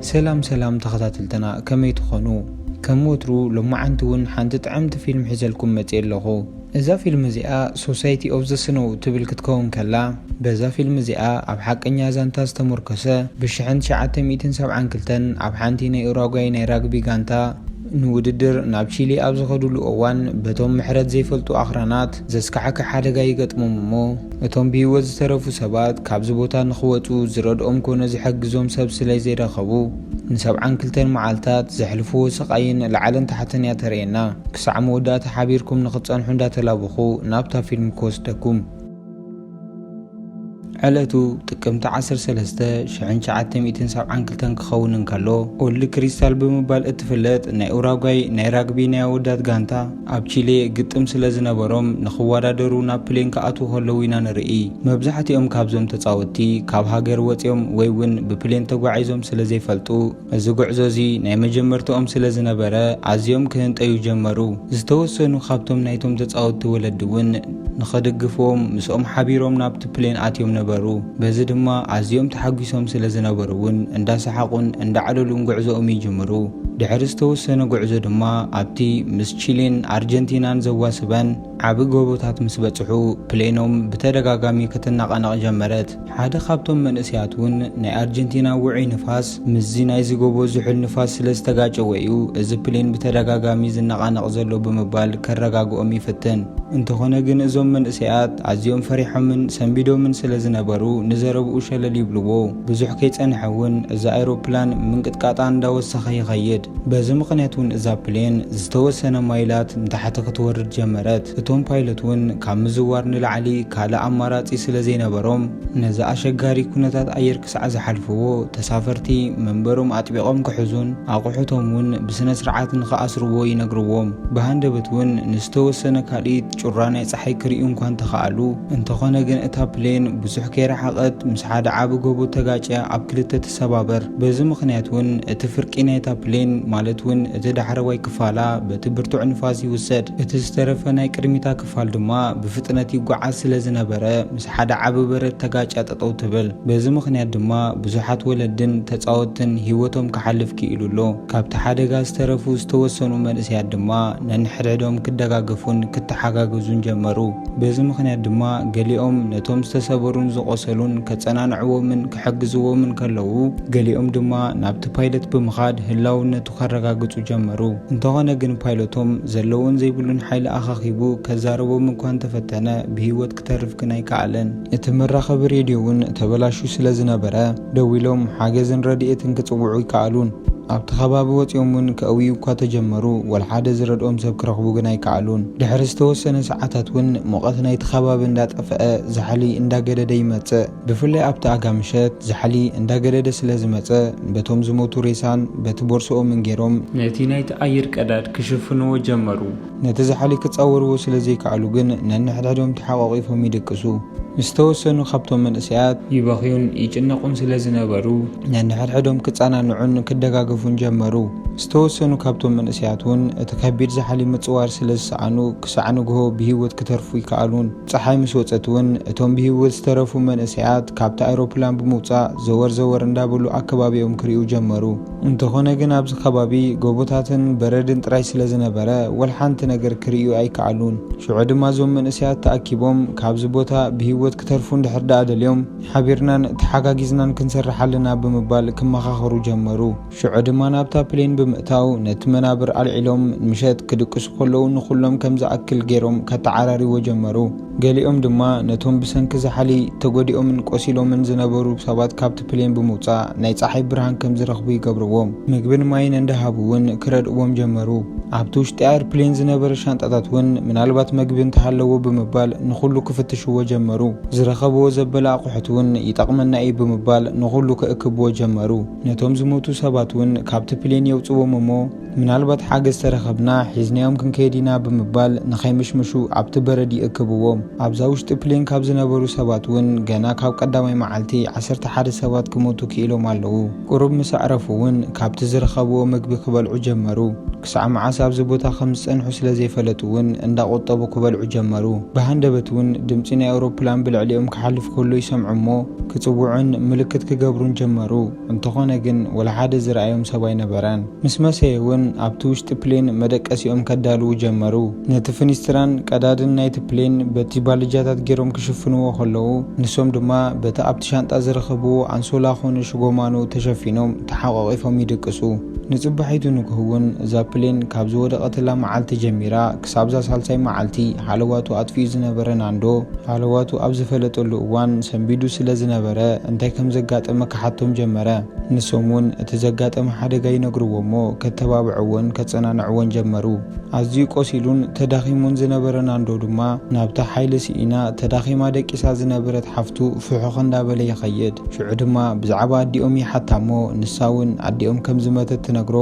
ሰላም ሰላም ተኸታተልትና ከመይ ትኾኑ ከም ወትሩ ሎማዓንቲ እውን ሓንቲ ጥዕምቲ ፊልም ሒዘልኩም መፅ ኣለኹ እዛ ፊልም እዚኣ ሶሳይቲ ኦፍ ዘ ስኖው ትብል ክትከውን ከላ በዛ ፊልም እዚኣ ኣብ ሓቀኛ ዛንታ ዝተሞርከሰ ብ1972 ኣብ ሓንቲ ናይ ኡራጓይ ናይ ራግቢ ጋንታ ንውድድር ናብ ቺሊ ኣብ ዝኸድሉ እዋን በቶም ምሕረት ዘይፈልጡ ኣኽራናት ዘስካሕክሕ ሓደጋ ይገጥሞም እሞ እቶም ብሂወት ዝተረፉ ሰባት ካብዚ ቦታ ንክወጹ ዝረድኦም ኮነ ዝሕግዞም ሰብ ስለዘይረኸቡ ንሰብዓን ክልተን መዓልታት ዘሕልፍዎ ስቃይን ላዕልን ታሕትን እያ ተርእየና ክሳዕ መወዳእታ ሓቢርኩም ንክትጸንሑ እንዳተላበኹ ናብታ ፊልም ክወስደኩም ዕለቱ ጥቅምቲ 13 1972 ክኸውን እንከሎ ኦልድ ክሪስታል ብምባል እትፍለጥ ናይ ኡራጓይ ናይ ራግቢ ናይ ኣወዳት ጋንታ ኣብ ቺሌ ግጥም ስለ ዝነበሮም ንኽወዳደሩ ናብ ፕሌን ክኣትዉ ከለዉ ኢና ንርኢ። መብዛሕትኦም ካብዞም ተጻወትቲ ካብ ሃገር ወጺኦም ወይ እውን ብፕሌን ተጓዒዞም ስለ ዘይፈልጡ እዚ ጉዕዞ እዚ ናይ መጀመርትኦም ስለ ዝነበረ ኣዝዮም ክህንጠዩ ጀመሩ። ዝተወሰኑ ካብቶም ናይቶም ተጻወትቲ ወለዲ እውን ንኽድግፍዎም ምስኦም ሓቢሮም ናብቲ ፕሌን ኣትዮም ነበሩ። በዚ ድማ ኣዝዮም ተሓጒሶም ስለ ዝነበሩ እውን እንዳሰሓቑን እንዳዕለሉን ጉዕዞኦም ይጅምሩ። ድሕሪ ዝተወሰነ ጉዕዞ ድማ ኣብቲ ምስ ቺሌን ኣርጀንቲናን ዘዋስበን ዓቢ ጎቦታት ምስ በጽሑ ፕሌኖም ብተደጋጋሚ ክትነቓነቕ ጀመረት። ሓደ ካብቶም መንእሰያት ውን ናይ ኣርጀንቲና ውዑይ ንፋስ ምስዚ ናይዚ ጎቦ ዝሑል ንፋስ ስለ ዝተጋጨወ እዩ እዚ ፕሌን ብተደጋጋሚ ዝነቓነቕ ዘሎ ብምባል ከረጋግኦም ይፍትን። እንተኾነ ግን እዞም መንእሰያት ኣዝዮም ፈሪሖምን ሰንቢዶምን ስለ ዝነበሩ ንዘረብኡ ሸለል ይብልዎ። ብዙሕ ከይጸንሐ ውን እዛ ኣይሮፕላን ምንቅጥቃጣ እንዳወሰኸ ይኸይድ። በዚ ምኽንያት እውን እዛ ፕሌን ዝተወሰነ ማይላት ንታሕቲ ክትወርድ ጀመረት። እቶም ፓይለት እውን ካብ ምዝዋር ንላዕሊ ካልእ ኣማራጺ ስለ ዘይነበሮም ነዚ ኣሸጋሪ ኩነታት ኣየር ክሳዕ ዝሓልፍዎ ተሳፈርቲ መንበሮም ኣጥቢቖም ክሕዙን ኣቑሑቶም እውን ብስነስርዓት ንኽኣስርዎ ይነግርዎም። ብሃንደበት እውን ንዝተወሰነ ካልኢት ጩራ ናይ ጸሓይ ክርእዩ እኳ እንተኸኣሉ እንተኾነ ግን እታ ፕሌን ብዙሕ ከይረሓቐት ምስ ሓደ ዓቢ ጎቦ ተጋጭያ ኣብ ክልተ ሰባበር። በዚ ምኽንያት ውን እቲ ፍርቂ ናይታ ፕሌን ማለት ውን እቲ ዳሕረዋይ ክፋላ በቲ ብርቱዕ ንፋስ ይውሰድ፣ እቲ ዝተረፈ ናይ ቅድሚታ ክፋል ድማ ብፍጥነት ይጓዓዝ ስለ ዝነበረ ምስ ሓደ ዓቢ በረድ ተጋጭያ ጠጠው ትብል። በዚ ምኽንያት ድማ ብዙሓት ወለድን ተጻወትን ሂወቶም ክሓልፍ ክኢሉ ኣሎ። ካብቲ ሓደጋ ዝተረፉ ዝተወሰኑ መንእሰያት ድማ ነንሕድሕዶም ክደጋገፉን ክተሓጋገዙን ጀመሩ። በዚ ምኽንያት ድማ ገሊኦም ነቶም ዝተሰበሩን ዝቖሰሉን ከጸናንዕዎምን ክሕግዝዎምን ከለዉ፣ ገሊኦም ድማ ናብቲ ፓይለት ብምኻድ ህላውነቱ ከረጋግጹ ጀመሩ። እንተኾነ ግን ፓይለቶም ዘለዎን ዘይብሉን ሓይሊ ኣኻኺቡ ከዛርቦም እኳ እንተፈተነ ብህይወት ክተርፍ ግን ኣይከኣለን። እቲ መራኸቢ ሬድዮ እውን ተበላሽዩ ስለ ዝነበረ፣ ደዊሎም ሓገዝን ረድኤትን ክጽውዑ ኣይከኣሉን። ኣብቲ ከባቢ ወጺኦም እውን ከእውዩ እኳ ተጀመሩ፣ ወልሓደ ዝረድኦም ሰብ ክረኽቡ ግን ኣይከኣሉን። ድሕሪ ዝተወሰነ ሰዓታት እውን ሙቐት ናይቲ ከባቢ እንዳጠፍኣ ዛሕሊ እንዳገደደ ይመጽእ። ብፍላይ ኣብቲ ኣጋ ምሸት ዛሕሊ እንዳገደደ ስለ ዝመጸ፣ በቶም ዝሞቱ ሬሳን በቲ ቦርስኦምን ገይሮም፣ ነቲ ናይቲ ኣየር ቀዳድ ክሽፍንዎ ጀመሩ። ነቲ ዛሕሊ ክጻወርዎ ስለ ዘይከኣሉ ግን ነንሕድሕዶም ተሓቋቒፎም ይድቅሱ። ምስ ተወሰኑ ካብቶም መንእሰያት። ይበኽዩን ይጭነቑን ስለ ዝነበሩ። ነንሕድሕዶም ክጸናንዑን ክደጋገፉን ጀመሩ። ምስ ተወሰኑ ካብቶም መንእሰያት ውን እቲ ከቢድ ዛሕሊ ምጽዋር ስለ ዝሰኣኑ ክሳዕ ንግሆ ብህይወት ክተርፉ ኣይከኣሉን። ጸሓይ ምስ ወጸት ውን እቶም ብህይወት ዝተረፉ መንእሰያት ካብታ ኣይሮፕላን ብምውጻእ ዘወር ዘወር እንዳበሉ ኣከባቢኦም ክርእዩ ጀመሩ። እንተኾነ ግን ኣብዚ ከባቢ ጎቦታትን በረድን ጥራይ ስለ ዝነበረ ወልሓንቲ ነገር ክርእዩ ኣይከኣሉን። ሽዑ ድማ እዞም መንእሰያት ተኣኪቦም ካብዚ ቦታ ብህይወት ክተርፉ እንድሕር ደኣ ደልዮም ሓቢርናን ተሓጋጊዝናን ክንሰርሕ ኣለና ብምባል ክመኻኸሩ ጀመሩ። ሽዑ ድማ ናብታ ፕሌን ብምእታው ነቲ መናብር ኣልዒሎም ምሸት ክድቅሱ ከለዉ ንኹሎም ከም ዝኣክል ገይሮም ከተዓራርይዎ ጀመሩ። ገሊኦም ድማ ነቶም ብሰንኪ ዛሕሊ ተጎዲኦምን ቆሲሎምን ዝነበሩ ሰባት ካብቲ ፕሌን ብምውጻእ ናይ ጸሓይ ብርሃን ከም ዝረኽቡ ይገብርዎም። ምግብን ማይን እንዳሃቡ እውን ክረድእዎም ጀመሩ። ኣብቲ ውሽጢ ኣየርፕሌን ዝነበረ ሻንጣታት እውን ምናልባት መግቢ እንተሃለዎ ብምባል ንኹሉ ክፍትሽዎ ጀመሩ። ዝረኸብዎ ዘበለ ኣቑሑት እውን ይጠቕመና እዩ ብምባል ንኹሉ ክእክብዎ ጀመሩ። ነቶም ዝሞቱ ሰባት እውን ካብቲ ፕሌን የውጽዎም እሞ፣ ምናልባት ሓገዝ ተረኸብና ሒዝናዮም ክንከይድ ኢና ብምባል ንኸይምሽምሹ ኣብቲ በረድ ይእክብዎም። ኣብዛ ውሽጢ ፕሌን ካብ ዝነበሩ ሰባት እውን ገና ካብ ቀዳማይ መዓልቲ ዓሰርተ ሓደ ሰባት ክሞቱ ክኢሎም ኣለዉ። ቁሩብ ምስ ኣዕረፉ እውን ካብቲ ዝረኸብዎ ምግቢ ክበልዑ ጀመሩ። ክሳዕ መዓስ ኣብዚ ቦታ ከም ዝጸንሑ ስለ ዘይፈለጡ እውን እንዳቆጠቡ ክበልዑ ጀመሩ። ብሃንደበት እውን ድምጺ ናይ ኣውሮፕላን ብልዕሊኦም ክሓልፍ ከሎ ይሰምዑ እሞ ክጽውዑን ምልክት ክገብሩን ጀመሩ። እንተኾነ ግን ወላ ሓደ ዝረኣዮም ሰብ ኣይነበረን። ምስ መሰየ እውን ኣብቲ ውሽጢ ፕሌን መደቀሲኦም ከዳልዉ ጀመሩ። ነቲ ፍኒስትራን ቀዳድን ናይቲ ፕሌን በቲ ባልጃታት ገይሮም ክሽፍንዎ ከለዉ ንሶም ድማ በቲ ኣብቲ ሻንጣ ዝረኸብዎ ኣንሶላ ኮኑ ሽጎማኖ ተሸፊኖም ተሓቋቒፎም ይድቅሱ። ንጽባሒቱ ንግሆ እውን እዛ ፕሌን ካብ ዝወደቐትላ መዓልቲ ጀሚራ ክሳብ'ዛ ሳልሳይ መዓልቲ ሃለዋቱ ኣጥፊኡ ዝነበረ ናንዶ፣ ሃለዋቱ ኣብ ዝፈለጠሉ እዋን ሰንቢዱ ስለ ዝነበረ፣ እንታይ ከም ዘጋጠመ ክሓቶም ጀመረ። ንሶም ውን እቲ ዘጋጠመ ሓደጋ ይነግርዎ'ሞ ከተባብዕዎን ከጸናንዕዎን ጀመሩ። ኣዝዩ ቆሲሉን ተዳኺሙን ዝነበረ ናንዶ ድማ፣ ናብታ ሓይሊ ስኢና ተዳኺማ ደቂሳ ዝነበረት ሓፍቱ ፍሑኽ እንዳበለ ይኸይድ። ሽዑ ድማ ብዛዕባ ኣዲኦም ይሓታ'ሞ፣ ንሳ ውን ኣዲኦም ከም ዝመተት ትነግሮ።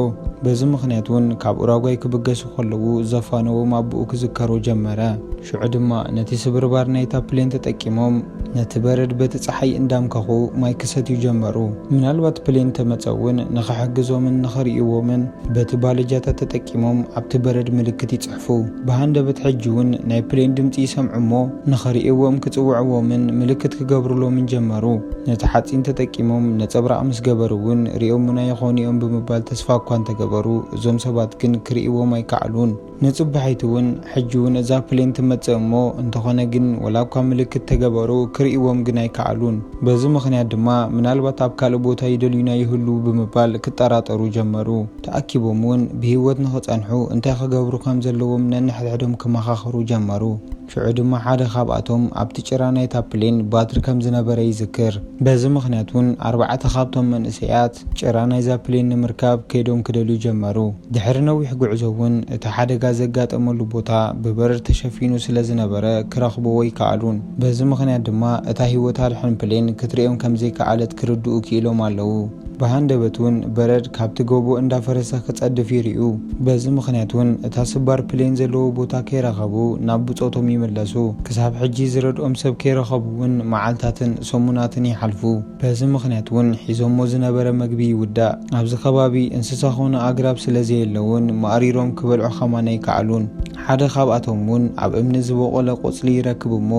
በዚ ምኽንያት ውን ካብ ኡራጓይ ክብገሱ። ክሓልፉ ከለዉ ዘፋነዎም ኣቦኡ ክዝከሮ ጀመረ። ሽዑ ድማ ነቲ ስብርባር ናይታ ፕሌን ተጠቂሞም ነቲ በረድ በቲ ጸሓይ እንዳምከኹ ማይ ክሰትዩ ጀመሩ። ምናልባት ፕሌን ተመጸ እውን ንኽሕግዞምን ንኽርእይዎምን በቲ ባለጃታት ተጠቂሞም ኣብቲ በረድ ምልክት ይጽሕፉ። ብሃንደበት ሕጂ እውን ናይ ፕሌን ድምጺ ይሰምዑ እሞ ንኽርእይዎም ክጽውዕዎምን ምልክት ክገብሩሎምን ጀመሩ። ነቲ ሓጺን ተጠቂሞም ነጸብራቕ ምስ ገበሩ እውን ርእዮሙና ይኾኑ እዮም ብምባል ተስፋ እኳ እንተገበሩ፣ እዞም ሰባት ግን ክርእይዎም ኣይከኣሉን። ንጽባሒቱ ውን ሕጂ ውን እዛ ፕሌን ትመጽእ እሞ እንተኾነ ግን ወላ እኳ ምልክት ተገበሩ ክርእይዎም ግን ኣይከኣሉን። በዚ ምኽንያት ድማ ምናልባት ኣብ ካልእ ቦታ ይደልዩና ይህልዉ ብምባል ክጠራጠሩ ጀመሩ። ተኣኪቦም ውን ብህይወት ንኽጸንሑ እንታይ ክገብሩ ከም ዘለዎም ነንሕድሕዶም ክመኻኸሩ ጀመሩ። ሽዑ ድማ ሓደ ካብኣቶም ኣብቲ ጭራ ናይታ ፕሌን ባትሪ ከም ዝነበረ ይዝክር። በዚ ምኽንያት እውን ኣርባዕተ ካብቶም መንእሰያት ጭራ ናይዛ ፕሌን ንምርካብ ከይዶም ክደልዩ ጀመሩ። ድሕሪ ነዊሕ ጉዕዞ እውን እቲ ሓደጋ ዘጋጠመሉ ቦታ ብበረድ ተሸፊኑ ስለ ዝነበረ ክረኽብዎ ኣይከኣሉን። በዚ ምኽንያት ድማ እታ ህይወት ኣድሕን ፕሌን ክትርእዮም ከም ዘይከኣለት ክርድኡ ክኢሎም ኣለዉ። ብሃንደበት ውን በረድ ካብቲ ጎቦ እንዳፈረሰ ክጸድፍ ይርእዩ። በዚ ምኽንያት ውን እታ ስባር ፕሌን ዘለዎ ቦታ ከይረኸቡ ናብ ብጾቶም ይምለሱ። ክሳብ ሕጂ ዝረድኦም ሰብ ከይረኸቡ ውን መዓልታትን ሰሙናትን ይሓልፉ። በዚ ምኽንያት ውን ሒዞሞ ዝነበረ መግቢ ይውዳእ። ኣብዚ ከባቢ እንስሳ ኮነ ኣግራብ ስለ ዘየለ ውን ማእሪሮም ክበልዑ ከማን ኣይከኣሉን። ሓደ ካብኣቶም ውን ኣብ እምኒ ዝቦቖለ ቆጽሊ ይረክብ እሞ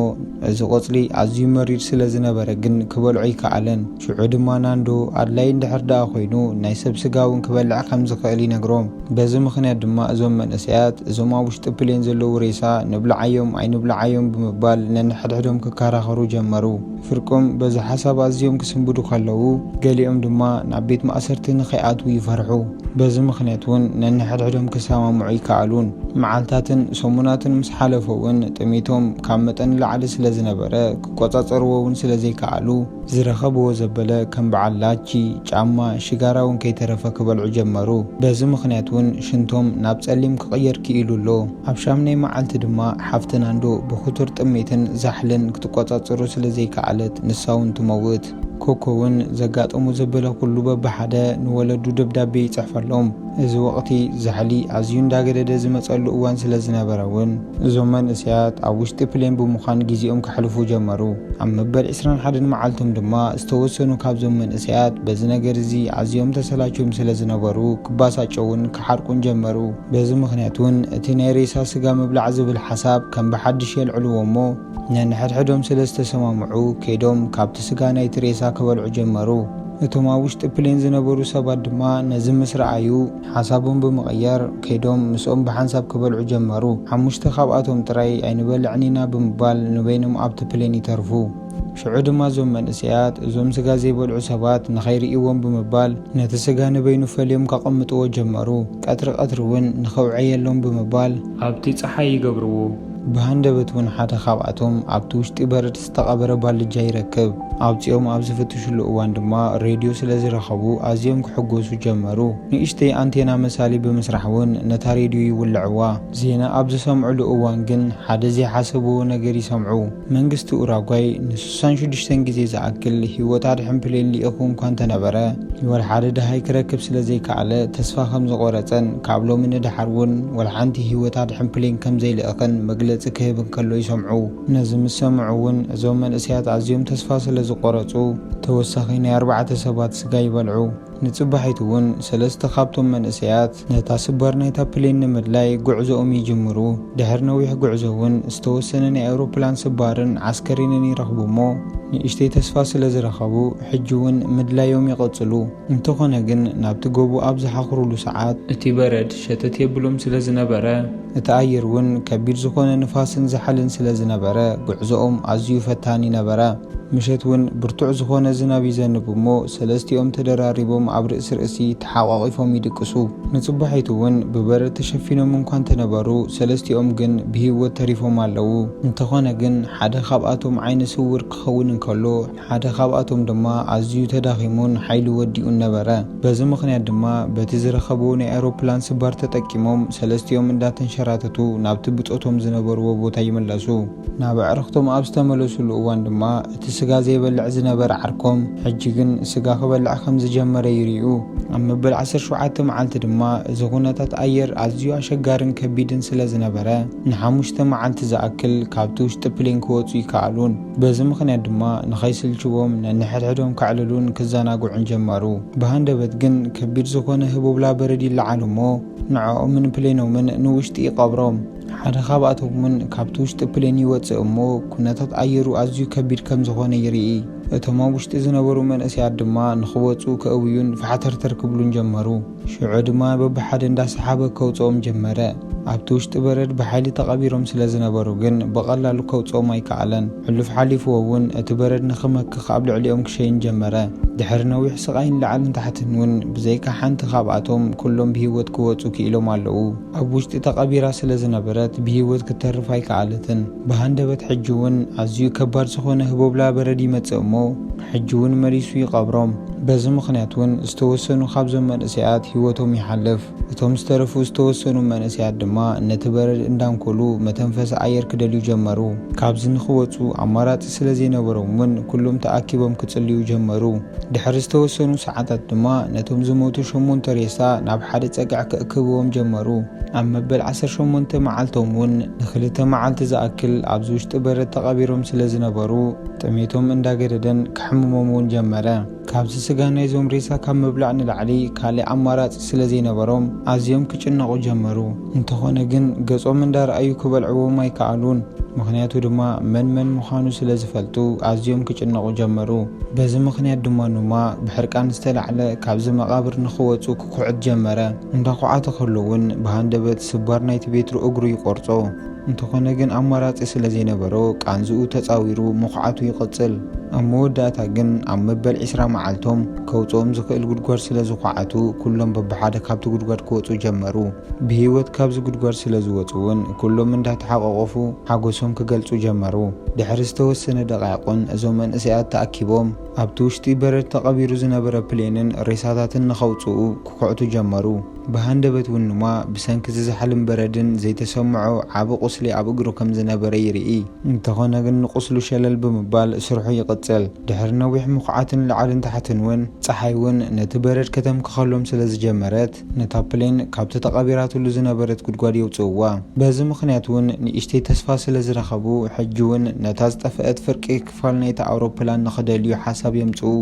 እዚ ቆጽሊ ኣዝዩ መሪር ስለ ዝነበረ ግን ክበልዖ ኣይከኣለን። ሽዑ ድማ ናንዶ ኣድላዪ እንድሕር ደኣ ኮይኑ ናይ ሰብ ስጋ እውን ክበልዕ ከም ዝኽእል ይነግሮም። በዚ ምኽንያት ድማ እዞም መንእሰያት እዞም ኣብ ውሽጢ ፕሌን ዘለዉ ሬሳ ንብልዓዮም ኣይንብልዓዮም ብምባል ነንሕድሕዶም ክከራኸሩ ጀመሩ። ፍርቆም በዚ ሓሳብ ኣዝዮም ክስንብዱ ከለዉ ገሊኦም ድማ ናብ ቤት ማእሰርቲ ንኸይኣትዉ ይፈርሑ። በዚ ምኽንያት እውን ነንሕድሕዶም ክሰማምዑ ኣይከኣሉን። መዓልታትን ሰሙናትን ምስ ሓለፈ እውን ጥሜቶም ካብ መጠን ንላዕሊ ስለ ዝነበረ ክቆጻጸርዎ እውን ስለ ዘይከኣሉ፣ ዝረኸብዎ ዘበለ ከም በዓል ላቺ፣ ጫማ፣ ሽጋራ ውን ከይተረፈ ክበልዑ ጀመሩ። በዚ ምኽንያት ውን ሽንቶም ናብ ጸሊም ክቕየር ክኢሉ ኣሎ። ኣብ ሻምናይ መዓልቲ ድማ ሓፍቲ ናንዶ ብኽቱር ጥሜትን ዛሕልን ክትቆጻጸሮ ስለ ዘይከኣለት ንሳ ውን ትመውት። ኮኮ ውን ዘጋጠሞ ዘበለ ኩሉ በብሓደ ንወለዱ ደብዳቤ ይጽሕፈሎም። እዚ ወቕቲ ዛሕሊ ኣዝዩ እንዳገደደ ዝመጸሉ እዋን ስለ ዝነበረ ውን፣ እዞም መንእሰያት ኣብ ውሽጢ ፕሌን ብምዃን ግዜኦም ከሕልፉ ጀመሩ። ኣብ መበል ዕስራን ሓደን መዓልቶም ድማ፣ ዝተወሰኑ ካብዞም መንእሰያት በዚ ነገር እዚ ኣዝዮም ተሰላችዮም ስለ ዝነበሩ፣ ክባሳጨዉን ክሓርቁን ጀመሩ። በዚ ምኽንያት ውን፣ እቲ ናይ ሬሳ ስጋ ምብላዕ ዝብል ሓሳብ ከም ብሓድሽ የልዕልዎ እሞ፣ ነንሕድሕዶም ስለ ዝተሰማምዑ፣ ከይዶም ካብቲ ስጋ ናይቲ ሬሳ ክበልዑ ጀመሩ። እቶም ኣብ ውሽጢ ፕሌን ዝነበሩ ሰባት ድማ ነዚ ምስ ረኣዩ፣ ሓሳቦም ብምቕያር ከይዶም ምስኦም ብሓንሳብ ክበልዑ ጀመሩ። ሓሙሽተ ካብኣቶም ጥራይ ኣይንበልዕን ኢና ብምባል ንበይኖም ኣብቲ ፕሌን ይተርፉ። ሽዑ ድማ እዞም መንእሰያት እዞም ስጋ ዘይበልዑ ሰባት ንኸይርእይዎም ብምባል ነቲ ስጋ ንበይኑ ፈልዮም ከቐምጥዎ ጀመሩ። ቀትሪ ቀትሪ እውን ንኽውዕየሎም ብምባል፣ ኣብቲ ጸሓይ ይገብርዎ። ብሃንደበት እውን ሓደ ካብኣቶም ኣብቲ ውሽጢ በረድ ዝተቐበረ ባልጃ ይረክብ። ኣውጺኦም ኣብ ዝፍትሽሉ እዋን ድማ ሬድዮ ስለ ዝረኸቡ ኣዝዮም ክሕጎሱ ጀመሩ። ንእሽተይ ኣንቴና መሳሊ ብምስራሕ እውን ነታ ሬድዮ ይውልዕዋ። ዜና ኣብ ዝሰምዕሉ እዋን ግን ሓደ ዘይሓሰብዎ ነገር ይሰምዑ። መንግስቲ ኡራጓይ ንስሳን ሽዱሽተን ግዜ ዝኣክል ህይወት ኣድሕን ፕሌን ልኢኹ እንኳ እንተነበረ፣ ወልሓደ ደሃይ ክረክብ ስለዘይከኣለ ተስፋ ከምዝቖረጸን ካብ ሎሚ ንደሓር እውን ወልሓንቲ ህይወት ኣድሕን ፕሌን ከምዘይልእኽን መግለጺ ክህብ እንከሎ ይሰምዑ። ነዚ ምስ ሰምዑ እውን እዞም መንእሰያት ኣዝዮም ተስፋ ስለዝቖረጹ ተወሳኺ ናይ ኣርባዕተ ሰባት ስጋ ይበልዑ። ንጽባሒቱ እውን ሰለስተ ካብቶም መንእሰያት ነታ ስባር ናይታ ፕሌን ንምድላይ ጉዕዞኦም ይጅምሩ። ድሕሪ ነዊሕ ጉዕዞ እውን ዝተወሰነ ናይ ኣውሮፕላን ስባርን ዓስከሪንን ይረኽቡ እሞ ንእሽተይ ተስፋ ስለ ዝረኸቡ ሕጂ እውን ምድላዮም ይቕጽሉ። እንተኾነ ግን ናብቲ ጎቦ ኣብ ዝሓኹሩሉ ሰዓት። እቲ በረድ ሸተት የብሎም ስለ ዝነበረ። እቲ ኣየር እውን ከቢድ ዝኾነ ንፋስን ዛሕልን ስለ ዝነበረ ጉዕዞኦም ኣዝዩ ፈታኒ ነበረ። ምሸት እውን ብርቱዕ ዝኾነ ዝናብ ይዘንብ እሞ ሰለስቲኦም ተደራሪቦም ኣብ ርእሲ ርእሲ ተሓቋቒፎም ይድቅሱ። ንጽባሒቱ እውን ብበረድ ተሸፊኖም እንኳ እንተነበሩ ሰለስቲኦም ግን ብህይወት ተሪፎም ኣለዉ። እንተኾነ ግን ሓደ ካብኣቶም ዓይነ ስውር ክኸውን እንከሎ፣ ሓደ ካብኣቶም ድማ ኣዝዩ ተዳኺሙን ሓይሉ ወዲኡን ነበረ። በዚ ምኽንያት ድማ በቲ ዝረኸብዎ ናይ ኣውሮፕላን ስባር ተጠቂሞም ሰለስቲኦም እንዳተንሸራተቱ ናብቲ ብጾቶም ዝነበርዎ ቦታ ይምለሱ። ናብ ኣዕርኽቶም ኣብ ዝተመለሱሉ እዋን ድማ እቲ ስጋ ዘይበልዕ ዝነበረ ዓርኮም ሕጂ ግን ስጋ ክበልዕ ከም ዝጀመረ ይሪኡ። ኣብ መበል ዓሰርተ ሸውዓተ መዓልቲ ድማ እዚ ኩነታት ኣየር ኣዝዩ ኣሸጋርን ከቢድን ስለ ዝነበረ ንሓሙሽተ መዓልቲ ዝኣክል ካብቲ ውሽጢ ፕሌን ክወጹ ኣይከኣሉን። በዚ ምኽንያት ድማ ንኸይስልችዎም ነንሕድሕዶም ከዕልሉን ክዘናግዑን ጀመሩ። ብሃንደበት ግን ከቢድ ዝኾነ ህቦብላ በረድ ይለዓል እሞ ንዕኦምን ፕሌኖምን ንውሽጢ ይቐብሮም። ሓደ ካብኣቶም እውን ካብቲ ውሽጢ ፕሌን ይወጽእ እሞ ኩነታት ኣየሩ ኣዝዩ ከቢድ ከም ዝኾነ ይርኢ። እቶም ኣብ ውሽጢ ዝነበሩ መንእሰያት ድማ ንኽወጽኡ ከእውዩን ፋሕተርተር ክብሉን ጀመሩ። ሽዑ ድማ በብሓደ እንዳሰሓበ ከውጽኦም ጀመረ። ኣብቲ ውሽጢ በረድ ብሓይሊ ተቐቢሮም ስለ ዝነበሩ ግን ብቐላሉ ከውጽኦም ኣይከኣለን። ሕሉፍ ሓሊፍዎ ውን እቲ በረድ ንኽመክኽ ኣብ ልዕሊኦም ክሸይን ጀመረ። ድሕሪ ነዊሕ ስቓይን ላዕልን ታሕትን ውን ብዘይካ ሓንቲ ካብኣቶም ኩሎም ብህይወት ክወጹ ክኢሎም ኣለዉ። ኣብ ውሽጢ ተቐቢራ ስለ ዝነበረት ብህይወት ክትተርፍ ኣይከኣለትን። ብሃንደበት ሕጂ ውን ኣዝዩ ከባድ ዝኾነ ህቦብላ በረድ ይመጽእ እሞ፣ ሕጂ ውን መሊሱ ይቀብሮም በዚ ምኽንያት ውን ዝተወሰኑ ካብዞም መንእሰያት ሂወቶም ይሓልፍ እቶም ዝተረፉ ዝተወሰኑ መንእሰያት ድማ ነቲ በረድ እንዳንኮሉ መተንፈሲ ኣየር ክደልዩ ጀመሩ ካብዚ ንኽወጹ ኣማራጺ ስለ ዘይነበሮም ውን ኩሎም ተኣኪቦም ክጽልዩ ጀመሩ ድሕሪ ዝተወሰኑ ሰዓታት ድማ ነቶም ዝሞቱ ሸሞንተ ሬሳ ናብ ሓደ ጸግዒ ክእክብዎም ጀመሩ ኣብ መበል ዓሰርተ ሸሞንተ መዓልቶም ውን ንኽልተ መዓልቲ ዝኣክል ኣብዚ ውሽጢ በረድ ተቀቢሮም ስለ ዝነበሩ ጥሜቶም እንዳገደደን ከሕምሞም እውን ጀመረ። ካብዚ ስጋ ናይዞም ሬሳ ካብ ምብላዕ ንላዕሊ ካሊእ ኣማራፂ ስለዘይነበሮም ኣዝዮም ክጭነቑ ጀመሩ። እንተኾነ ግን ገፆም እንዳርኣዩ ክበልዕዎም ኣይከኣሉን። ምኽንያቱ ድማ መን መን ምዃኑ ስለዝፈልጡ ኣዝዮም ክጭነቑ ጀመሩ። በዚ ምኽንያት ድማ ኑማ ብሕርቃን ዝተላዕለ ካብዚ መቓብር ንኽወፁ ክኩዕት ጀመረ። እንዳኹዓተ ከሎ እውን ብሃንደበት ስባር ናይቲ ቤትሩ እግሩ ይቆርፆ። እንተኾነ ግን ኣማራጺ ስለ ዘይነበሮ ቃንዝኡ ተጻዊሩ ምኹዓቱ ይቕጽል። ኣብ መወዳእታ ግን ኣብ መበል ዕስራ መዓልቶም ከውጽኦም ዝኽእል ጉድጓድ ስለ ዝኹዓቱ ኩሎም በብሓደ ካብቲ ጉድጓድ ክወጹ ጀመሩ። ብህይወት ካብዚ ጉድጓድ ስለ ዝወጹ እውን ኩሎም እንዳተሓቋቖፉ ሓጎሶም ክገልጹ ጀመሩ። ድሕሪ ዝተወሰነ ደቓይቕን እዞም መንእሰያት ተኣኪቦም ኣብቲ ውሽጢ በረድ ተቐቢሩ ዝነበረ ፕሌንን ሬሳታትን ንኸውጽኡ ክኹዕቱ ጀመሩ። ብሃንደበት እውን ኑማ ብሰንኪ ዝዛሕልን በረድን ዘይተሰምዖ ዓቢ ቁስሊ ኣብ እግሩ ከም ዝነበረ ይርኢ። እንተኾነ ግን ንቁስሉ ሸለል ብምባል ስርሑ ይቕጽል። ድሕሪ ነዊሕ ምኹዓትን ላዕልን ታሕትን እውን ጸሓይ እውን ነቲ በረድ ከተምክኸሎም ስለ ዝጀመረት ነታ ፕሌን ካብቲ ተቐቢራትሉ ዝነበረት ጉድጓድ የውጽእዋ። በዚ ምኽንያት እውን ንእሽተይ ተስፋ ስለ ዝረኸቡ ሕጂ እውን ነታ ዝጠፈአት ፍርቂ ክፋል ናይታ ኣውሮፕላን ንኽደልዩ ሓሳብ የምጽኡ።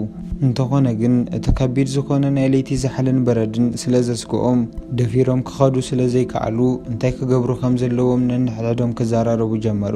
እንተኾነ ግን እቲ ከቢድ ዝኾነ ናይ ለይቲ ዛሕልን በረድን ስለ ዘስግኦም፣ ደፊሮም ክኸዱ ስለ ዘይከኣሉ እንታይ ክገብሩ ከም ዘለዎም ነንሕድሕዶም ክዘራረቡ ጀመሩ።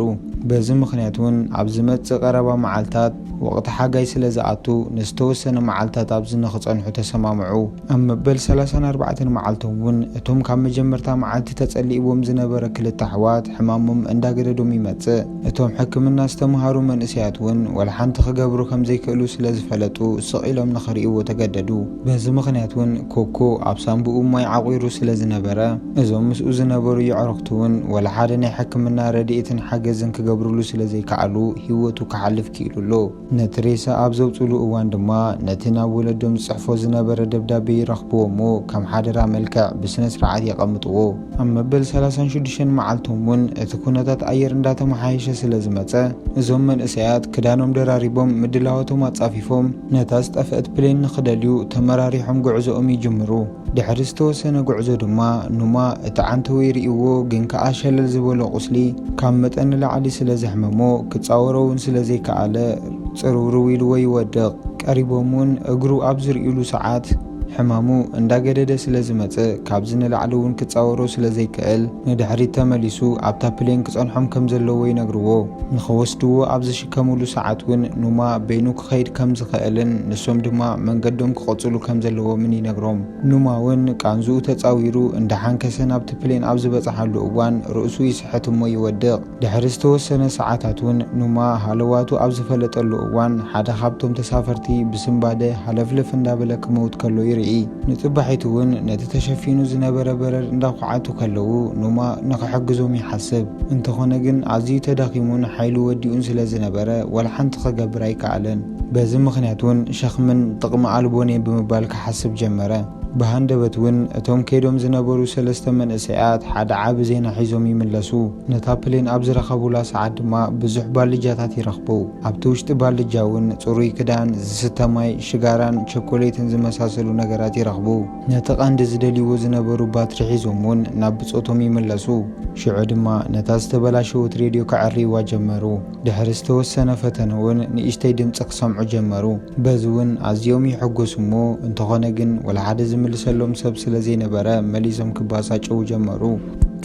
በዚ ምኽንያት እውን ኣብ ዝመጽእ ቀረባ መዓልታት ወቕቲ ሓጋይ ስለ ዝኣቱ ንዝተወሰነ መዓልታት ኣብዚ ንኽጸንሑ ተሰማምዑ። ኣብ መበል ሰላሳን ኣርባዕተን መዓልቶም እውን እቶም ካብ መጀመርታ መዓልቲ ተጸሊእዎም ዝነበረ ክልተ ኣሕዋት ሕማሞም እንዳገደዶም ይመጽእ። እቶም ሕክምና ዝተመሃሩ መንእሰያት እውን ወላ ሓንቲ ክገብሩ ከም ዘይክእሉ ስለ ዝፈለጡ ስቕ ኢሎም ንኽርእይዎ ተገደዱ። በዚ ምኽንያት እውን ኮኮ ኣብ ሳንቡኡ ማይ ዓቝሩ ስለ ዝነበረ እዞም ምስኡ ዝነበሩ የዕሩኽቱ እውን ወላ ሓደ ናይ ሕክምና ረድኤትን ሓገዝን ክገብርሉ ስለ ዘይከኣሉ ህይወቱ ክሓልፍ ክኢሉ ኣሎ። ነቲ ሬሳ ኣብ ዘውጽእሉ እዋን ድማ ነቲ ናብ ወለዶም ዝጽሕፎ ዝነበረ ደብዳቤ ይረኽብዎ እሞ ከም ሓደራ መልክዕ ብስነ ስርዓት የቐምጥዎ። ኣብ መበል ሰላሳን ሽዱሽተን መዓልቶም እውን እቲ ኩነታት ኣየር እንዳተመሓየሸ ስለ ዝመጸ እዞም መንእሰያት ክዳኖም ደራሪቦም ምድላዋቶም ኣጻፊፎም ነታ ዝጠፍአት ፕሌን ንኽደልዩ ተመራሪሖም ጉዕዞኦም ይጅምሩ። ድሕሪ ዝተወሰነ ጉዕዞ ድማ ኑማ እቲ ዓንተወይ ርእይዎ ግን ከኣ ሸለል ዝበሎ ቁስሊ ካብ መጠን ንላዕሊ ስለ ዘሕመሞ ክጻወሮ ውን ስለ ዘይከኣለ ጽርውርው ኢልዎ ይወድቕ። ቀሪቦም ውን እግሩ ኣብ ዝርእዩሉ ሰዓት ሕማሙ እንዳ ገደደ ስለ ዝመጽእ ካብዚ ንላዕሊ ውን ክጻወሮ ስለ ዘይክእል ንድሕሪት ተመሊሱ ኣብታ ፕሌን ክጸንሖም ከም ዘለዎ ይነግርዎ ንኽወስድዎ ኣብ ከምሉ ሰዓት እውን ኑማ በይኑ ክኸይድ ከም ዝኸእልን ንሶም ድማ መንገዶም ክቐጽሉ ከም ዘለዎምን ይነግሮም። ኑማ እውን ቃንዝኡ ተጻዊሩ እንዳሓንከሰ ናብቲ ፕሌን ኣብ ዝበጽሓሉ እዋን ርእሱ ይስሕት እሞ ይወድቕ። ድሕሪ ዝተወሰነ ሰዓታት እውን ኑማ ሃለዋቱ ኣብ ዝፈለጠሉ እዋን ሓደ ካብቶም ተሳፈርቲ ብስንባደ ሃለፍለፍ እንዳበለ ክመውት ከሎ ይርኢ። ንጽባሒቱ እውን ነቲ ተሸፊኑ ዝነበረ በረድ እንዳኳዓቱ ከለዉ ኑማ ንኽሕግዞም ይሓስብ። እንተኾነ ግን ኣዝዩ ተዳኺሙን ሓይሉ ወዲኡን ስለ ዝነበረ ዋላ ሓንቲ ክገብር ኣይከኣለን። በዚ ምኽንያት እውን ሸኽምን ጥቕሚ ኣልቦን እየ ብምባል ክሓስብ ጀመረ። ብሃንደበት እውን እቶም ከይዶም ዝነበሩ ሰለስተ መንእሰያት ሓደ ዓቢ ዜና ሒዞም ይምለሱ። ነታ ፕሌን ኣብ ዝረኸቡላ ሰዓት ድማ ብዙሕ ባልጃታት ይረኽቡ። ኣብቲ ውሽጢ ባልጃ እውን ጽሩይ ክዳን፣ ዝስተ ማይ፣ ሽጋራን ቸኮሌትን ዝመሳሰሉ ነገራት ይረኽቡ። ነቲ ቀንዲ ዝደልይዎ ዝነበሩ ባትሪ ሒዞም እውን ናብ ብጾቶም ይምለሱ። ሽዑ ድማ ነታ ዝተበላሸወት ሬድዮ ከዐርይዋ ጀመሩ። ድሕሪ ዝተወሰነ ፈተነ እውን ንእሽተይ ድምጺ ክሰምዑ ጀመሩ። በዚ እውን ኣዝዮም ይሕጎሱ እሞ እንተኾነ ግን ወላ ሓደ ዝምልሰሎም ሰብ ስለ ዘይነበረ መሊሶም ክባሳጨዉ ጀመሩ።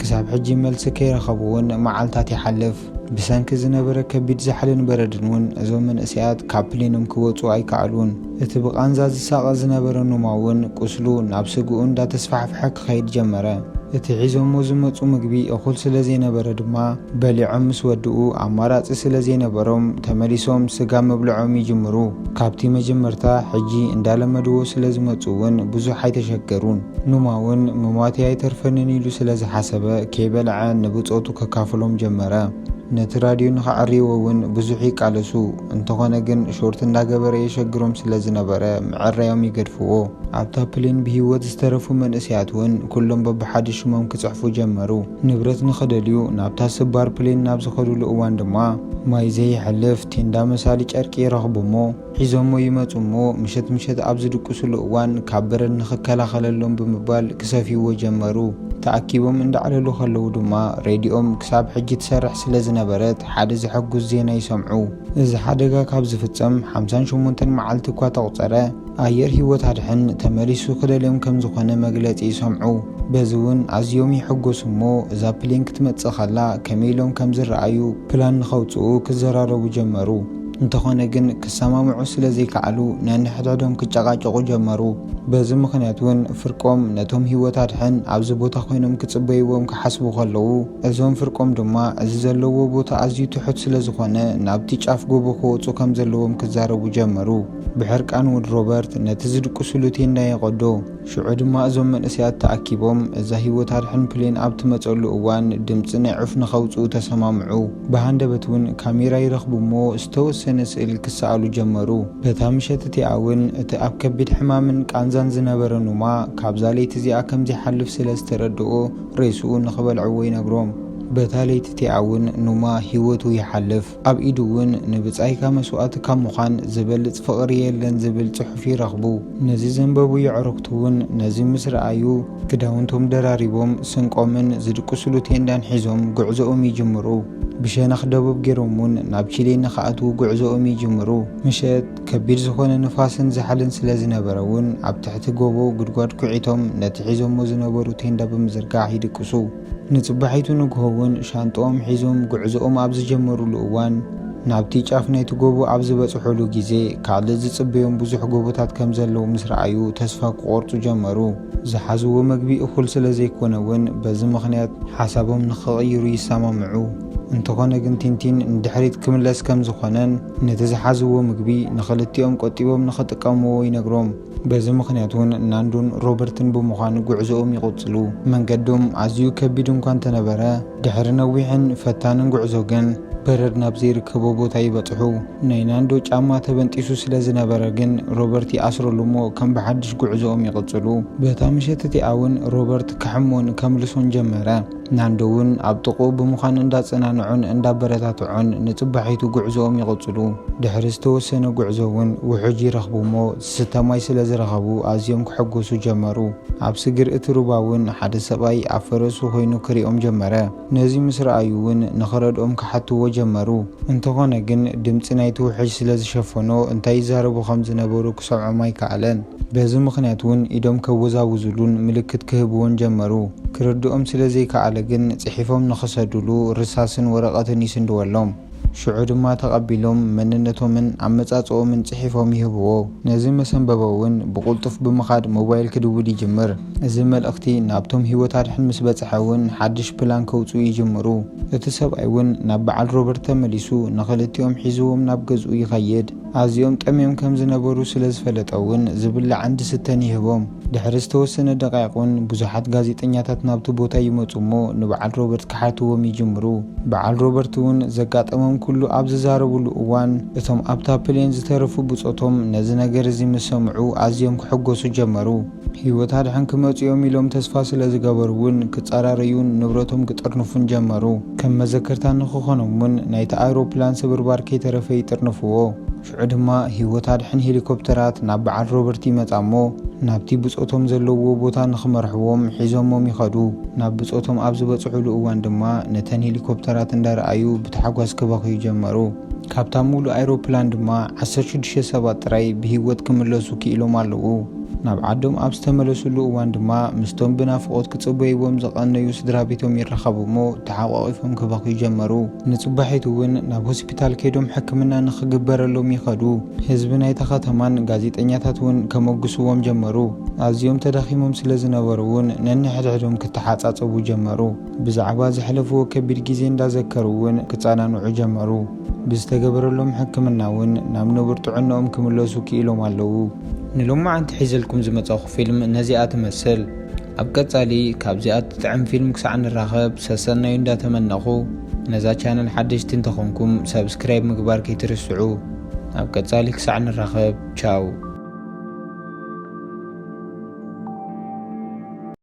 ክሳብ ሕጂ መልሲ ከይረኸቡ እውን መዓልታት ይሓልፍ። ብሰንኪ ዝነበረ ከቢድ ዛሕልን በረድን እውን እዞም መንእሰያት ካብ ፕሊኖም ክወጹ ኣይከኣሉን። እቲ ብቓንዛ ዝሳቐ ዝነበረ ኑማ እውን ቁስሉ ናብ ስግኡ እንዳተስፋሕፍሐ ክኸይድ ጀመረ። እቲ ሒዞሞ ዝመጹ ምግቢ እኹል ስለ ዘይነበረ ድማ በሊዖም ምስ ወድኡ ኣማራጺ ስለ ዘይነበሮም ተመሊሶም ስጋ ምብልዖም ይጅምሩ። ካብቲ መጀመርታ ሕጂ እንዳለመድዎ ስለ ዝመጹ እውን ብዙሕ ኣይተሸገሩን። ኑማ እውን ምሟተይ ኣይተርፈንን ኢሉ ስለ ዝሓሰበ፣ ከይበልዐ ንብጾቱ ከካፍሎም ጀመረ። ነቲ ራድዮ ንኸዐርይዎ እውን ብዙሕ ይቃለሱ፣ እንተኾነ ግን ሾርት እንዳገበረ የሸግሮም ስለ ዝነበረ ምዕራዮም ይገድፍዎ። ኣብታ ፕሌን ብህይወት ዝተረፉ መንእሰያት እውን ኩሎም በብሓደ ሽሞም ክጽሕፉ ጀመሩ። ንብረት ንኸደልዩ ናብታ ስባር ፕሌን ናብ ዝኸድሉ እዋን ድማ፣ ማይ ዘይሕልፍ ቴንዳ መሳሊ ጨርቂ ይረኽቡ'ሞ፣ ሒዞሞ ይመጹ እሞ ምሸት ምሸት ኣብ ዝድቅሱሉ እዋን ካብ በረድ ንኽከላኸለሎም ብምባል ክሰፍዩዎ ጀመሩ። ተኣኪቦም እንዳዕለሉ ከለዉ ድማ ሬድዮኦም ክሳብ ሕጂ ትሰርሕ ስለ ዝነበረት ሓደ ዘሐጉስ ዜና ይሰምዑ። እዚ ሓደጋ ካብ ዝፍጸም ሓምሳን ሸሞንተን መዓልቲ እኳ ተቑጸረ፣ ኣየር ህይወት ኣድሕን ተመሊሱ ክደልዮም ከም ዝኾነ መግለጺ ይሰምዑ። በዚ እውን ኣዝዮም ይሕጎሱ እሞ እዛ ፕሌን ክትመጽእ ከላ ከመይ ኢሎም ከም ዝረኣዩ ፕላን ንኸውጽኡ ክዘራረቡ ጀመሩ። እንተኾነ ግን ክሰማምዑ ስለ ዘይከኣሉ ነንሕድሕዶም ክጨቓጨቑ ጀመሩ። በዚ ምኽንያት እውን ፍርቆም ነቶም ህይወት ኣድሕን ኣብዚ ቦታ ኮይኖም ክጽበይዎም ክሓስቡ ከለዉ፣ እዞም ፍርቆም ድማ እዚ ዘለውዎ ቦታ ኣዝዩ ትሑት ስለ ዝኾነ ናብቲ ጫፍ ጎቦ ክወጹ ከም ዘለዎም ክዛረቡ ጀመሩ። ብሕርቃን እውን ሮበርት ነቲ ዝድቅሱሉ ቴንዳ የቐዶ። ሽዑ ድማ እዞም መንእሰያት ተኣኪቦም እዛ ህይወት ኣድሕን ፕሌን ኣብ ትመጸሉ እዋን ድምጺ ናይ ዑፍ ንኸውጽኡ ተሰማምዑ። ብሃንደበት እውን ካሜራ ይረኽቡ እሞ ዝተወሰነ ስእል ክሰኣሉ ጀመሩ። በታ ምሸት እቲኣ እውን እቲ ኣብ ከቢድ ሕማምን ቃንዛን ዝነበረ ኑማ ካብዛ ለይቲ እዚኣ ከም ዘይሓልፍ ስለ ዝተረድኦ ሬስኡ ንኽበልዕዎ ይነግሮም። በታ ለይቲ እቲኣ እውን ኑማ ህይወቱ ይሓልፍ። ኣብ ኢዱ እውን ንብጻይካ መስዋእቲ ካብ ምዃን ዚበልጽ ፍቕሪ የለን ዚብል ጽሑፍ ይረኽቡ። ነዚ ዘንበቡ የዕሩኽቱ እውን ነዚ ምስ ረኣዩ፣ ክዳውንቶም ደራሪቦም፣ ስንቆምን ዚድቅሱሉ ቴንዳን ሒዞም ጕዕዞኦም ይጅምሩ። ብሸነኽ ደቡብ ገይሮም እውን ናብ ቺሌ ንኽኣትዉ ጕዕዞኦም ይጅምሩ። ምሸት፣ ከቢድ ዝዀነ ንፋስን ዛሕልን ስለ ዝነበረ እውን፣ ኣብ ትሕቲ ጐቦ ጕድጓድ ኲዒቶም ነቲ ሒዞሞ ዝነበሩ ቴንዳ ብምዝርጋሕ ይድቅሱ። ንጽባሒቱ ንግሆ እውን ሻንጥኦም ሒዞም ጉዕዞኦም ኣብ ዝጀመሩሉ እዋን፣ ናብቲ ጫፍ ናይቲ ጎቦ ኣብ ዝበጽሑሉ ግዜ፣ ካልእ ዝጽበዮም ብዙሕ ጎቦታት ከም ዘለዉ ምስ ረኣዩ ተስፋ ክቖርጹ ጀመሩ። ዝሓዝዎ መግቢ እኹል ስለ ዘይኰነ እውን በዚ ምኽንያት ሓሳቦም ንኽቕይሩ ይሰማምዑ። እንተዀነ ግን ቲንቲን ንድሕሪት ክምለስ ከም ዝዀነን ነቲ ዝሓዝዎ ምግቢ ንኽልቲኦም ቆጢቦም ንኽጥቀምዎ ይነግሮም። በዚ ምኽንያት እውን ናንዱን ሮበርትን ብምዃን ጉዕዞኦም ይቕጽሉ። መንገዶም ኣዝዩ ከቢድ እንኳ እንተነበረ፣ ድሕሪ ነዊሕን ፈታንን ጉዕዞ ግን በረድ ናብ ዘይርከቦ ቦታ ይበጽሑ። ናይ ናንዶ ጫማ ተበንጢሱ ስለ ዝነበረ ግን ሮበርት ይኣስረሉ እሞ ከም ብሓድሽ ጉዕዞኦም ይቕጽሉ። በታ ምሸት እቲኣ እውን ሮበርት ክሕሞን ከምልሶን ጀመረ። ናንዶ ውን ኣብ ጥቕኡ ብምዃን እንዳጸናንዖን እንዳበረታትዖን ንጽባሒቱ ጉዕዞኦም ይቕጽሉ። ድሕሪ ዝተወሰነ ጉዕዞ ውን ውሑጅ ይረኽቡ እሞ ዝስተ ማይ ስለ ዝረኸቡ ኣዝዮም ክሕጎሱ ጀመሩ። ኣብ ስግር እቲ ሩባ ውን ሓደ ሰብኣይ ኣብ ፈረሱ ኮይኑ ክሪኦም ጀመረ። ነዚ ምስ ረኣዩ ውን ንኽረድኦም ክሓትዎ ጀመሩ። እንተኾነ ግን ድምጺ ናይቲ ውሕጅ ስለ ዝሸፈኖ እንታይ ይዛረቡ ከም ዝነበሩ ክሰምዖም ኣይከኣለን። በዚ ምኽንያት እውን ኢዶም ከወዛውዙሉን ምልክት ክህብዎን ጀመሩ። ክርድኦም ስለ ዘይከኣለ ግን ጽሒፎም ንኽሰዱሉ ርሳስን ወረቐትን ይስንድወሎም። ሽዑ ድማ ተቐቢሎም መንነቶምን ኣመጻጽኦምን ጽሒፎም ይህብዎ። ነዚ መሰንበቦ እውን ብቕልጡፍ ብምኻድ ሞባይል ክድውል ይጅምር። እዚ መልእኽቲ ናብቶም ህይወት ኣድሕን ምስ በጽሐ እውን ሓድሽ ፕላን ከውጽኡ ይጅምሩ። እቲ ሰብኣይ እውን ናብ በዓል ሮበርት ተመሊሱ ንኽልቲኦም ሒዝዎም ናብ ገዝኡ ይኸይድ። ኣዝዮም ጠምዮም ከም ዝነበሩ ስለ ዝፈለጠ'ውን ዝብላዕን ዝስተን ይህቦም። ድሕሪ ዝተወሰነ ደቓይቕ'ውን ብዙሓት ጋዜጠኛታት ናብቲ ቦታ ይመጹ'ሞ ንበዓል ሮበርት ክሓትዎም ይጅምሩ። በዓል ሮበርት'ውን ዘጋጠሞም ኩሉ ኣብ ዝዛረብሉ እዋን እቶም ኣብታ ፕሌን ዝተረፉ ብጾቶም ነዚ ነገር'ዚ ምስ ሰምዑ ኣዝዮም ክሕጎሱ ጀመሩ። ህይወት ኣድሕን ክመጹ'ዮም ኢሎም ተስፋ ስለ ዝገበሩ'ውን ክጻራረዩን ንብረቶም ክጥርንፉን ጀመሩ። ከም መዘከርታ ንኽኾኖም'ውን ናይታ ኣይሮፕላን ስብርባር ከይተረፈ ይጥርንፍዎ። ሽዑ ድማ ህይወት ኣድሕን ሄሊኮፕተራት ናብ በዓል ሮበርት ይመጻ'ሞ ናብቲ ብጾቶም ዘለውዎ ቦታ ንኽመርሕዎም ሒዞሞም ይኸዱ። ናብ ብጾቶም ኣብ ዝበጽሑሉ እዋን ድማ ነተን ሄሊኮፕተራት እንዳረኣዩ ብታሕጓስ ክበኽዩ ጀመሩ። ካብታ ምሉእ ኣይሮፕላን ድማ ዓሰርተ ሽዱሽተ ሰባት ጥራይ ብህይወት ክምለሱ ክኢሎም ኣለዉ። ናብ ዓዶም ኣብ ዝተመለሱሉ እዋን ድማ ምስቶም ብናፍቖት ክጽበይዎም ዝቐነዩ ስድራቤቶም ይራኸቡ እሞ ተሓቋቒፎም ክበኽዩ ጀመሩ። ንጽባሒቱ እውን ናብ ሆሲፒታል ከይዶም ሕክምና ንኽግበረሎም ይኸዱ። ህዝቢ ናይታ ከተማን ጋዜጠኛታት እውን ከሞግስዎም ጀመሩ። ኣዝዮም ተዳኺሞም ስለ ዝነበሩ እውን ነንሕድሕዶም ክተሓጻጸቡ ጀመሩ። ብዛዕባ ዘሕለፍዎ ከቢድ ግዜ እንዳዘከሩ እውን ክጸናንዑ ጀመሩ። ብዝተገበረሎም ሕክምና እውን ናብ ንቡር ጥዕንኦም ክምለሱ ክኢሎም ኣለዉ። ንሎማዓንቲ ሒዘልኩም ዝመጻኹ ፊልም ነዚኣ ትመስል። ኣብ ቀጻሊ ካብዚኣ ትጥዕም ፊልም ክሳዕ ንራኸብ ሰሰናዩ እንዳተመነኹ ነዛ ቻነል ሓደሽቲ እንተኾንኩም ሳብስክራይብ ምግባር ከይትርስዑ። ኣብ ቀጻሊ ክሳዕ ንራኸብ ቻው።